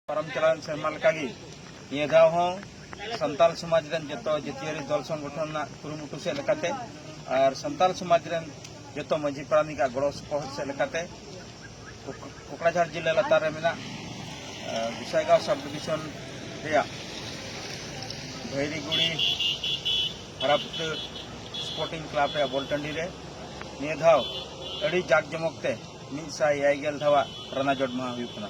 ᱯᱟᱨᱚᱢ ᱪᱟᱞᱟᱣᱮᱱ ᱥᱮᱨᱢᱟ ᱞᱮᱠᱟᱜᱮ ᱱᱤᱭᱟᱹ ᱫᱷᱟᱣ ᱦᱚᱸ ᱥᱟᱱᱛᱟᱞ ᱥᱚᱢᱟᱡᱽ ᱨᱮᱱ ᱡᱚᱛᱚ ᱡᱟᱹᱛᱤᱭᱟᱹᱨᱤ ᱫᱚᱞ ᱥᱚᱝᱜᱚᱴᱷᱚᱱ ᱨᱮᱱᱟᱜ ᱠᱩᱨᱩᱢᱩᱴᱩ ᱥᱮᱫ ᱞᱮᱠᱟᱛᱮ ᱟᱨ ᱥᱟᱱᱛᱟᱞ ᱥᱚᱢᱟᱡᱽ ᱨᱮᱱ ᱡᱚᱛᱚ ᱢᱟᱹᱡᱷᱤ ᱯᱟᱨᱟᱱᱤᱠ ᱟᱜ ᱜᱚᱲᱚ ᱥᱚᱯᱚᱦᱚᱫ ᱥᱮᱫ ᱞᱮᱠᱟᱛᱮ ᱠᱚᱠᱲᱟᱡᱷᱟᱲ ᱡᱤᱞᱟᱹ ᱞᱟᱛᱟᱨ ᱨᱮ ᱢᱮᱱᱟᱜ ᱜᱩᱥᱟᱭᱜᱟᱸᱣ ᱥᱟᱵ ᱰᱤᱵᱷᱤᱥᱚᱱ ᱨᱮᱭᱟᱜ ᱵᱷᱟᱹᱭᱨᱤᱜᱩᱲᱤ ᱦᱟᱨᱟᱯᱩᱛᱟᱹ ᱥᱯᱳᱨᱴᱤᱝ ᱠᱞᱟᱵᱽ ᱨᱮᱭᱟᱜ ᱵᱚᱞ ᱴᱟᱺᱰᱤ ᱨᱮ ᱱᱤᱭᱟᱹ ᱫᱷᱟᱣ ᱟᱹᱰᱤ ᱡᱟᱠ ᱡᱚᱢᱚᱠ ᱛᱮ ᱢᱤᱫ ᱥᱟᱭ ᱮᱭᱟᱭ ᱜᱮᱞ ᱫᱷᱟᱣᱟᱜ ᱨᱟᱱᱟᱡᱚᱴ ᱢᱟᱦᱟ ᱦᱩᱭᱩᱜ ᱠᱟᱱᱟ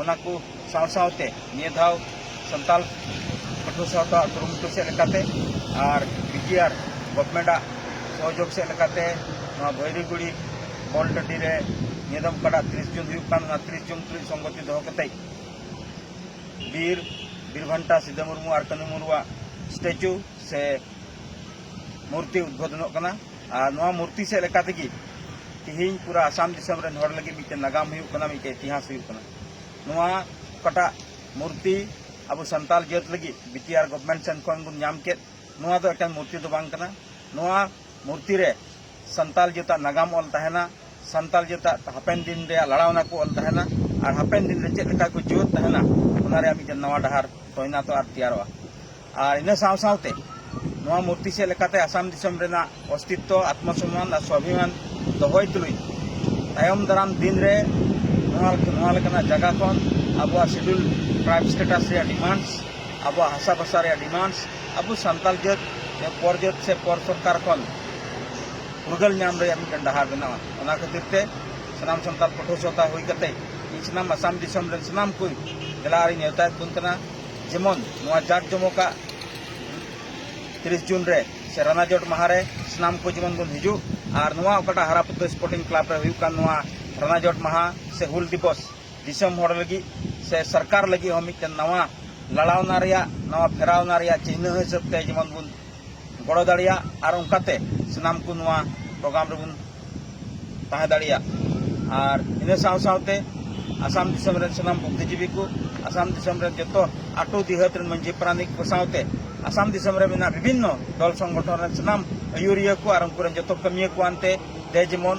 ᱚᱱᱟ ᱠᱚ ᱥᱟᱶ ᱥᱟᱶᱛᱮ ᱱᱤᱭᱟᱹ ᱫᱷᱟᱣ ᱥᱟᱱᱛᱟᱲ ᱯᱟᱹᱴᱷᱩᱣᱟᱹ ᱥᱟᱶᱛᱟ ᱠᱩᱨᱩᱢᱩᱴᱩ ᱥᱮᱫ ᱞᱮᱠᱟᱛᱮ ᱟᱨ ᱵᱤ ᱴᱤ ᱟᱨ ᱜᱚᱵᱷᱢᱮᱱᱴ ᱟᱜ ᱥᱚᱦᱚᱡᱳᱜᱽ ᱥᱮᱫ ᱞᱮᱠᱟᱛᱮ ᱱᱚᱣᱟ ᱵᱷᱟᱹᱭᱨᱩᱜᱩᱲᱤ ᱵᱚᱞ ᱴᱟᱺᱰᱤ ᱨᱮ ᱱᱤᱭᱟᱹ ᱫᱚᱢ ᱚᱠᱟᱴᱟᱜ ᱛᱤᱨᱤᱥ ᱡᱩᱱ ᱦᱩᱭᱩᱜ ᱠᱟᱱ ᱚᱱᱟ ᱛᱤᱨᱤᱥ ᱡᱩᱱ ᱛᱩᱞᱩᱡ ᱥᱚᱝᱜᱚᱛᱤ ᱫᱚᱦᱚ ᱠᱟᱛᱮ ᱵᱤᱨ ᱵᱤᱨᱵᱷᱟᱱᱴᱟ ᱥᱤᱫᱟᱹ ᱢᱩᱨᱢᱩ ᱟᱨ ᱠᱟᱹᱱᱩ ᱢᱩᱨᱢᱩᱣᱟᱜ ᱥᱴᱮᱪᱩ ᱥᱮ ᱢᱩᱨᱛᱤ ᱩᱫᱽᱵᱷᱚᱫᱚᱱᱚᱜ ᱠᱟᱱᱟ ᱟᱨ ᱱᱚᱣᱟ ᱢᱩᱨᱛᱤ ᱥᱮᱫ ᱞᱮᱠᱟ ᱛᱮᱜᱮ ᱛᱮᱦᱮᱧ ᱯᱩᱨᱟᱹ ᱟᱥᱟᱢ ᱫᱤᱥᱚᱢ ᱨᱮᱱ ᱦᱚᱲ ᱞᱟᱹᱜᱤᱫ ᱢᱤᱫᱴᱮᱱ ᱱᱟᱜᱟᱢ ᱦᱩᱭᱩᱜ ᱠᱟᱱᱟ ᱢᱤᱫᱴᱮᱱ ᱤᱛᱤᱦᱟᱥ ᱦᱩᱭᱩᱜ ᱠᱟᱱᱟ ᱱᱚᱣᱟ ᱚᱠᱟᱴᱟᱜ ᱢᱩᱨᱛᱤ ᱟᱵᱚ ᱥᱟᱱᱛᱟᱲ ᱡᱟᱹᱛ ᱞᱟᱹᱜᱤᱫ ᱵᱤᱴᱤᱟᱨ ᱜᱚᱵᱷᱚᱨᱱᱢᱮᱱᱴ ᱥᱮᱱ ᱠᱷᱚᱱ ᱵᱚᱱ ᱧᱟᱢ ᱠᱮᱫ ᱱᱚᱣᱟ ᱫᱚ ᱮᱠᱮᱱ ᱢᱩᱨᱛᱤ ᱫᱚ ᱵᱟᱝ ᱠᱟᱱᱟ ᱱᱚᱣᱟ ᱢᱩᱨᱛᱤ ᱨᱮ ᱥᱟᱱᱛᱟᱲ ᱡᱟᱹᱛᱟᱜ ᱱᱟᱜᱟᱢ ᱚᱞ ᱛᱟᱦᱮᱱᱟ ᱥᱟᱱᱛᱟᱲ ᱡᱟᱹᱛᱟᱜ ᱦᱟᱯᱮᱱ ᱫᱤᱱ ᱨᱮᱭᱟᱜ ᱞᱟᱲᱟᱣᱱᱟ ᱠᱚ ᱚᱞ ᱛᱟᱦᱮᱱᱟ ᱟᱨ ᱦᱟᱯᱮᱱ ᱫᱤᱱ ᱨᱮ ᱪᱮᱫ ᱞᱮᱠᱟ ᱠᱚ ᱡᱤᱣᱮᱫ ᱛᱟᱦᱮᱱᱟ ᱚᱱᱟ ᱨᱮᱭᱟᱜ ᱢᱤᱫᱴᱮᱱ ᱱᱟᱣᱟ ᱰᱟᱦᱟᱨ ᱛᱚᱭᱱᱟᱛᱚᱜᱼᱟ ᱟᱨ ᱛᱮᱭᱟᱨᱚᱜᱼᱟ ᱟᱨ ᱤᱱᱟᱹ ᱥᱟᱶ ᱥᱟᱶᱛᱮ ᱱᱚᱣᱟ ᱢᱩᱨᱛᱤ ᱥᱮᱫ ᱞᱮᱠᱟᱛᱮ ᱟᱥᱟᱢ ᱫᱤᱥᱚᱢ ᱨᱮᱱᱟᱜ ᱚᱥᱛᱤᱛᱛᱚ ᱟᱛᱢᱚ ᱥᱚᱢᱢᱟᱱ ᱟᱨ ᱥᱚᱵᱷᱤᱢᱟᱱ ᱫᱚᱦᱚᱭ ᱛᱩᱞᱩᱡ ᱛᱟᱭᱚᱢ ᱫᱟᱨᱟᱢ ᱫᱤᱱ ᱨᱮ ᱱᱚᱣᱟ ᱱᱚᱣᱟ ᱞᱮᱠᱟᱱᱟᱜ ᱡᱟᱭᱜᱟ ᱠᱷᱚᱱ ᱟᱵᱚᱣᱟᱜ ᱥᱤᱰᱩᱞ ᱴᱨᱟᱭᱤᱵᱽ ᱥᱴᱮᱴᱟᱥ ᱨᱮᱭᱟᱜ ᱰᱤᱢᱟᱱᱰᱥ ᱟᱵᱚᱣᱟᱜ ᱦᱟᱥᱟ ᱵᱷᱟᱥᱟ ᱨᱮᱭᱟᱜ ᱰᱤᱢᱟᱱᱰᱥ ᱟᱵᱚ ᱥᱟᱱᱛᱟᱲ ᱡᱟᱹᱛ ᱯᱚᱨ ᱡᱟᱹᱛ ᱥᱮ ᱯᱚᱨ ᱥᱚᱨᱠᱟᱨ ᱠᱷᱚᱱ ᱯᱷᱩᱨᱜᱟᱹᱞ ᱧᱟᱢ ᱨᱮᱭᱟᱜ ᱢᱤᱫᱴᱮᱱ ᱰᱟᱦᱟᱨ ᱵᱮᱱᱟᱣᱟ ᱚᱱᱟ ᱠᱷᱟᱹᱛᱤᱨ ᱛᱮ ᱥᱟᱱᱟᱢ ᱥᱟᱱᱛᱟᱲ ᱯᱟᱹᱴᱷᱩᱣᱟᱹ ᱥᱟᱶᱛᱟ ᱦᱩᱭ ᱠᱟᱛᱮ ᱤᱧ ᱥᱟᱱᱟᱢ ᱟᱥᱟᱢ ᱫᱤᱥᱚᱢ ᱨᱮᱱ ᱥᱟᱱᱟᱢ ᱠᱚ ᱫᱮᱞᱟ ᱟᱨᱤᱧ ᱱᱮᱣᱛᱟᱭᱮᱫ ᱵᱚᱱ ᱠᱟᱱᱟ ᱡᱮᱢᱚᱱ ᱱᱚᱣᱟ ᱡᱟᱠ ᱡᱚᱢᱚᱠᱟᱜ ᱛᱤᱨᱤᱥ ᱡᱩᱱ ᱨᱮ ᱥᱮ ᱨᱟᱱᱟᱡᱚᱴ ᱢᱟᱦᱟ ᱨᱮ ᱥᱟᱱᱟᱢ ᱠᱚ ᱡᱮᱢᱚᱱ ᱵᱚᱱ ᱦᱤᱡᱩᱜ ᱟᱨ ᱱᱚᱣᱟ ᱚᱠᱟᱴᱟᱜ ᱦᱟᱨᱟ ᱯᱩᱛᱟᱹ ᱥᱯᱳᱨᱴᱤᱝ ᱠᱞᱟᱵᱽ ᱨᱮ ᱦᱩᱭᱩᱜ ᱠᱟᱱ ᱱᱚᱣᱟ ᱨᱟᱱᱟᱡᱚᱴ ᱢᱟᱦᱟ ᱥᱮ ᱦᱩᱞ ᱫᱤᱵᱚᱥ ᱫᱤᱥᱚᱢ ᱦᱚᱲ ᱞᱟᱹᱜᱤᱫ ᱥᱮ ᱥᱚᱨᱠᱟᱨ ᱞᱟᱹᱜᱤᱫ ᱦᱚᱸ ᱢᱤᱫᱴᱮᱱ ᱱᱟᱣᱟ ᱞᱟᱲᱟᱣᱱᱟ ᱨᱮᱭᱟᱜ ᱱᱟᱣᱟ ᱯᱷᱮᱨᱟᱣᱱᱟ ᱨᱮᱭᱟᱜ ᱪᱤᱱᱦᱟᱹ ᱦᱤᱥᱟᱹᱵᱽ ᱛᱮ ᱡᱮᱢᱚᱱ ᱵᱚᱱ ᱜᱚᱲᱚ ᱫᱟᱲᱮᱭᱟᱜ ᱟᱨ ᱚᱱᱠᱟᱛᱮ ᱥᱟᱱᱟᱢ ᱠᱚ ᱱᱚᱣᱟ ᱯᱨᱳᱜᱨᱟᱢ ᱨᱮᱵᱚᱱ ᱛᱟᱦᱮᱸ ᱫᱟᱲᱮᱭᱟᱜ ᱟᱨ ᱤᱱᱟᱹ ᱥᱟᱶ ᱥᱟᱶᱛᱮ ᱟᱥᱟᱢ ᱫᱤᱥᱚᱢ ᱨᱮᱱ ᱥᱟᱱᱟᱢ ᱵᱩᱫᱽᱫᱷᱤᱡᱤᱵᱤ ᱠᱚ ᱟᱥᱟᱢ ᱫᱤᱥᱚᱢ ᱨᱮᱱ ᱡᱚᱛᱚ ᱟᱴᱚ ᱫᱤᱦᱟᱹᱛ ᱨᱮᱱ ᱢᱟᱹᱡᱷᱤ ᱯᱟᱨᱟᱱᱤᱠ ᱠᱚ ᱥᱟᱶᱛᱮ ᱟᱥᱟᱢ ᱫᱤᱥᱚᱢ ᱨᱮ ᱢᱮᱱᱟᱜ ᱵᱤᱵᱷᱤᱱᱱᱚ ᱫᱚᱞ ᱥᱚᱝᱜᱚᱴᱷᱚᱱ ᱨᱮᱱ ᱥᱟᱱᱟᱢ ᱟᱹᱭᱩᱨᱤᱭᱟᱹ ᱠᱚ ᱟᱨ ᱩᱱᱠᱩ ᱨᱮᱱ ᱡᱚᱛᱚ ᱠᱟᱹᱢᱤᱭᱟᱹ ᱠᱚ ᱟᱱᱛᱮ ᱫᱮ ᱡᱮᱢᱚᱱ